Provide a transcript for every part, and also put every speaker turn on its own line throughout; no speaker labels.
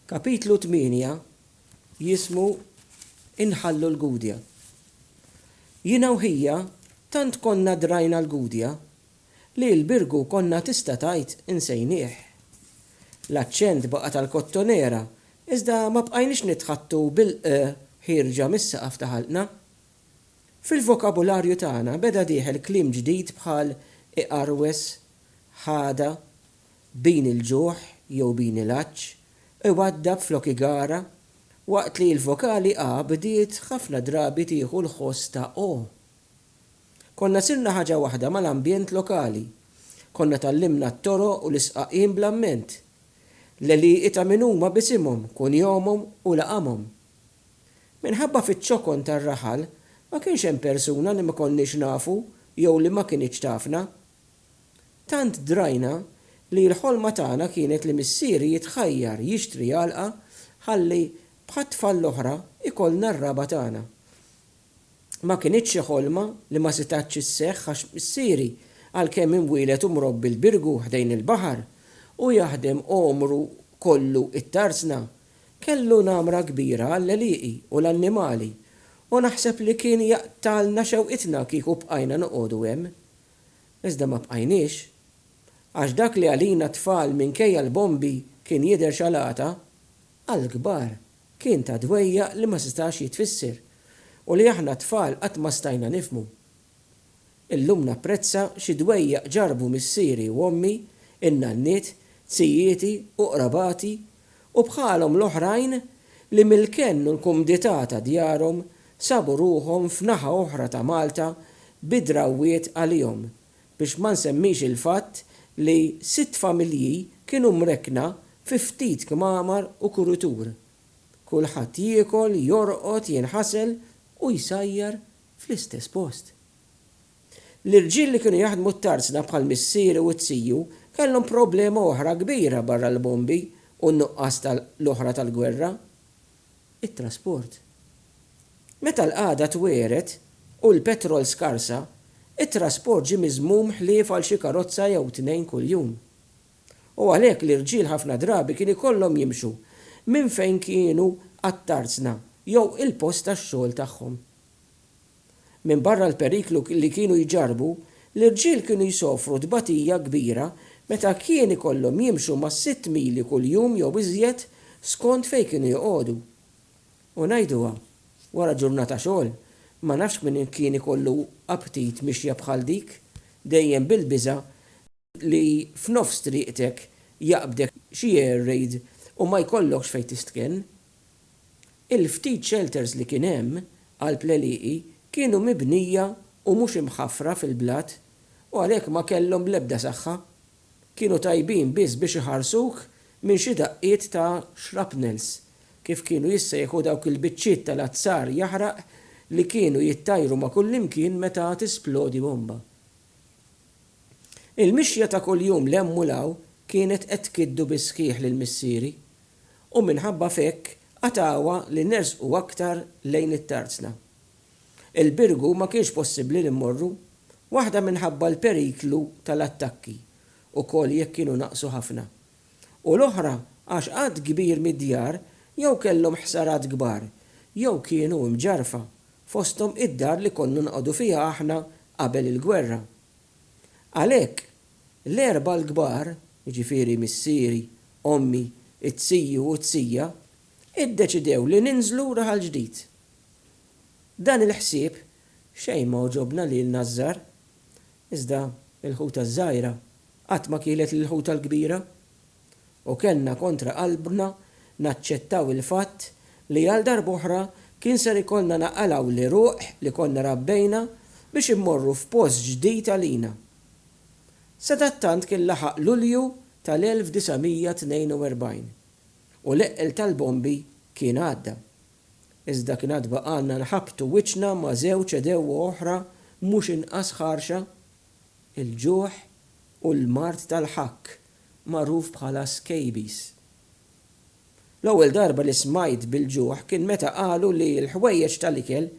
Kapitlu tmienja jismu Inħallu l-Gudja. Jiena u ħija tant konna drajna l-Gudja li l-Birgu konna tista' tgħid insejnieh. L-aċċent baqa' tal-Kottonera iżda ma bqajniex nitħaddtu bil-ë ħierġa mis-saqaf ta' ħalqna. Fil-vokabularju tagħna beda dieħel kliem ġdid bħal iqarwes, ħada, bini il-ġuħ jew bini l-għatx, iwaddab flok igara, waqt li l-vokali a bdiet ħafna drabi tieħu l-ħoss ta' o. Konna sirna ħaġa waħda mal-ambjent lokali. Konna tgħallimna t-toroq u l-isqaqin bl-amment. L-għelieqi ta' min huma b'isimhom, kunjomhom u laqamhom. Minħabba fiċ-ċokon tar-raħal, ma kienx hemm persuna li ma konniex nafu jew li ma kinitx tafna. Tant drajna li l-ħolma tagħna kienet li missieri jitħajjar jixtri għalqa ħalli bħat-tfal l-oħra jkollna r-raba' tagħna. Ma kinitx xi ħolma li ma setgħetx isseħħ għax missieri għalkemm imwieled u mrobbi l-Birgu ħdejn il-baħar u jaħdem għomru kollu it-Tarzna, kellu namra kbira għall-għelieqi u l-annimali u naħseb li kien jaqtgħalna xewqitna kieku bqajna noqogħdu hemm. Iżda ma bqajniex. Għax dak li għalina t-tfal minkejja l-bombi kien jidher xalata, għall-kbar kien ta' dwejjaq li ma setax jitfisser u li aħna t-tfal qatt ma stajna nifhmu. Illum napprezza xi dwejjaq ġarrbu missieri u ommi, in-nanniet, zijieti u qrabati u bħalhom l-oħrajn li mill-kenn u l-kumdità ta' djarhom sabu ruħhom f'naħa oħra ta' Malta bi drawwiet għalihom, biex ma nsemmix il-fatt li sitt familji kienu mrekkna fi ftit kmamar u kuritur. Kulħadd jiekol, jorqod, jinħasel u jsajjar fl-istess post. L-irġiel li kienu jaħdmu t-tarzna bħal missieri u t-tiju kellhom problema oħra kbira barra l-bombi u n-nuqqas ta' l-oħra tal-gwerra, it-trasport. Meta l-qagħda twiegħret u l-petrol skarsa, it-trasport ġie miżmum ħlief għal xi karozza jew tnejn kuljum. U għalhekk l-irġiel ħafna drabi kien ikollhom jimxu minn fejn kienu għat-tarzna jew il-post tax-xogħol tagħhom. Minbarra l-periklu li kienu jġarrbu, l-irġiel kienu jsofru tbatija kbira meta kien ikollhom jimxu mas-sitt mili kuljum jew iżjed skont fejn kienu joqogħdu. U ngħiduha, wara ġurnata xogħol, ma nafx min kien ikollu aptit mixja bħal dik, dejjem bil-biża' li f'nofs triqtek jaqbdek xi air raid u ma jkollokx fejn tistkenn. Il-ftit shelters li kien hemm għal tlelieqi kienu mibnija u mhux imħaffra fil-blat u għalhekk ma kellhom l-ebda saħħa. Kienu tajbin biss biex iħarsuk minn xi daqqiet ta' shrapnels, kif kienu jissejħu dawk il-biċċiet tal-azzar jaħraq li kienu jittajru ma' kullimkien meta tisplodi bomba. Il-mixja ta' kuljum 'l hemm u 'l hawn kienet qed tkiddu bis-sħiħ lil missieri, u minħabba f'hekk qatgħuha li nersqu aktar lejn it-Tarzna. Il-Birgu ma kienx possibbli li mmorru, waħda minħabba l-periklu tal-attakki, ukoll jekk kienu naqsu ħafna, u l-oħra għax għadd kbir mid-djar jew kellhom ħsarat kbar jew kienu imġarrfa, fosthom id-dar li konna noqogħdu fiha aħna qabel il-gwerra. Għalhekk, l-erbgħa l-kbar, jiġifieri missieri, ommi, it-tiju u t-tija, iddeċidew li ninżlu Raħal Ġdid. Dan il-ħsieb xejn ma għoġobna lilna ż-żgħar. Iżda l-ħuta ż-żgħira qatt ma kielet lill-ħuta l-kbira, u kellna kontra qalbna naċċettaw il-fatt li għal darb'oħra kien ser ikollna naqalgħu l-għeruq li konna rabbejna biex immorru f'post ġdid għalina. Sadattant kien laħaq Lulju tal-1942, u l-eqqel tal-bombi kien għadda. Iżda kien għad baqgħalna nħabbtu wiċċna ma' żewġ għedewwa oħra mhux inqas ħarxa, il-ġuħ u l-mard tal-ħakk, magħruf bħala skabies. L-ewwel darba li smajt bil-ġuħ kien meta qalu li l-ħwejjeġ tal-ikel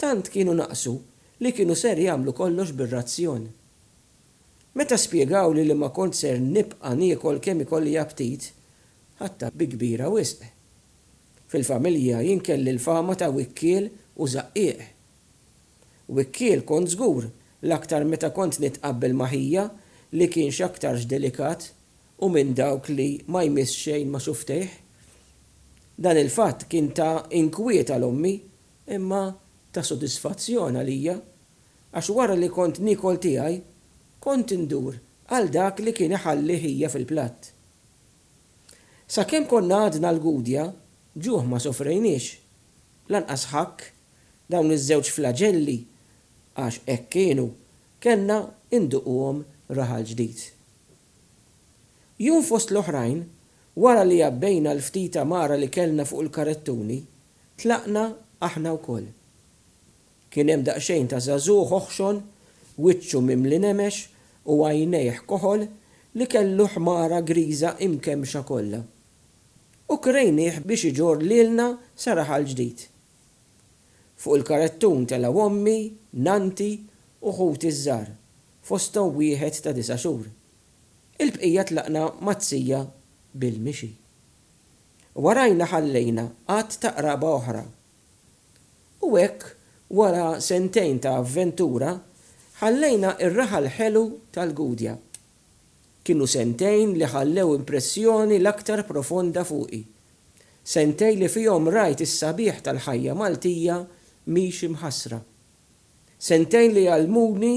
tant kienu naqsu li kienu ser jagħmlu kollox bir-razzjon. Meta spjegawli li ma kont ser nibqa' niekol kemm ikolli aptit, ħadtha bi kbira wisq. Fil-familja jien kelli l-fama ta' wikkiel u żaqqieq. Wikkiel kont żgur, l-aktar meta kont nitqabbel ma' ħija li kien x'aktarx delikat u minn dawk li ma jmiss xejn ma' xuftejh. Dan il-fatt kien ta' inkwiet għal ommi imma ta' sodisfazzjon għalija għax wara li kont niekol tiegħi kont indur għal dak li kien iħalli ħija fil-platt. Sakemm konna għadna l-Gudja, ġuħ ma sofrejniex, lanqas ħakk, dawn iż-żewġ flaġelli, għax hekk kienu, kellna induquhom raħal ġdid. Jum fost l-oħrajn, wara li għabbejna l-ftit għamara li kellna fuq il-karettuni, tlaqna aħna wkoll. Kien hemm daqsxejn ta' żagħżugħ oħxon, wiċċu mimli nemex u għajnejh koħol li kellu ħmara griża imkemmxa kollha. U krejnieh biex iġorr lilna sa raħal ġdid. Fuq il-karettun telgħu ommi, nannti u ħuti ż-żgħar, fosthom wieħed ta' disa' xhur. Il-bqija tlaqna mat-tija bil-mixi. Warajna ħallejna għadd ta' qraba oħra U hekk, wara sentejn ta' avventura, ħallejna r-raħal ħelu tal-Gudja. Kienu sentejn li ħallew impressjoni l-aktar profonda fuqi. Sentejn li fihom rajt is-sabiħ tal-ħajja Maltija miexi mħassra. Sentejn li għallmuni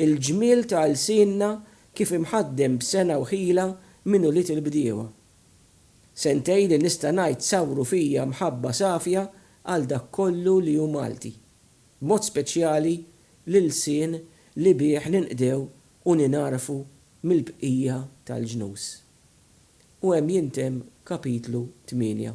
l-ġmiel ta' lsienna kif imħaddem b'sengħa u ħila minn ulied il-bdiewa. Sentej li nista' ngħid sawru fija mħabba safja għal dak kollu li hu Malti. B'mod speċjali l-ilsien li bih ninqdew u ningħarfu mill-bqija tal-ġnus. U hemm jintemm kapitlu tmienja.